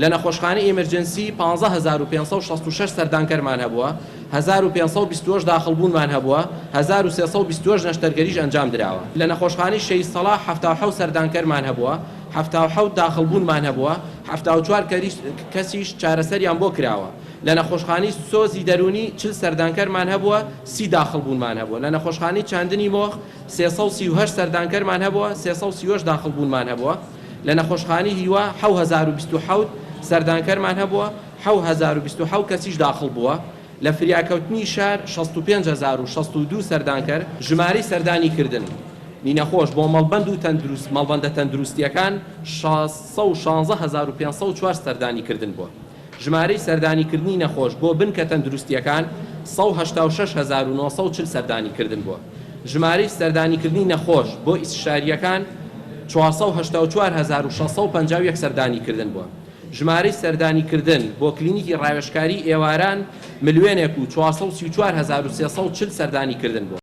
لە نەخۆشخانەی ئیمرجنسی پازدە هەزار و پێنج سەد و شەست و شەش سەردانکەرمان هەبووە، هەزار و پێنج سەد و بیست و هەشت داخڵبوونمان هەبووە، هەزار و سێ سەد و بیست و هەشت نەشتەرگەریش ئەنجام دراوە. لە نەخۆشخانەی شەهید سەڵاح حەفتا و حەوت سەردانکەرمان هەبووە، حەفتا و حەوت داخڵبوونمان هەبووە، حەفتا و چوار کەسیش چارەسەریان بۆ کراوە. لە نەخۆشخانەی سۆزی دەروونی چل سەردانکەرمان هەبووە، سی داخڵبوونمان هەبووە. لە نەخۆشخانەی چاندنی مۆخ سێ سەد و سی و هەشت سەردانکەرمان هەبووە، سێ سەد و سی و هەشت داخڵبوونمان هەبووە. لە نەخۆشخانەی هیوا حەو هەزار و بیست و حەوت سەردانکەرمان هەبووە، حەو هەزار و بیست و حەو کەسیش داخڵ بووە، لە فریاکەوتنی شار شەست و پێنج هەزار و شەست و دوو سەردانکەر، ژمارەی سەردانی کردن نی نەخۆش بۆ مەڵبەند و تەندروست مەڵبەندە تەندروستییەکان شەش سەد و شازدە هەزار و پێنج سەد و چوار سەردانی کردن بووە. ژمارەی سەردانیکردنی نەخۆش بۆ بنکە تەندروستییەکان سەد و هەشتا و شەش هەزار و نۆ سەد و چل سەردانیکردن بووە، ژمارەی سەردانیکردنی نەخۆش بۆ ئیستشارییەکان چوار سەد و هەشتا و چوار هەزار و شەش سەد و پەنجا و یەک سەردانیکردن بووە، ژمارەی سەردانیکردن بۆ کلینیکی ڕاوێژکاریی ئێواران ملیۆنێک و چوار سەد و سی و چوار هەزار و سێ سەد و چل سەردانیکردن بووە.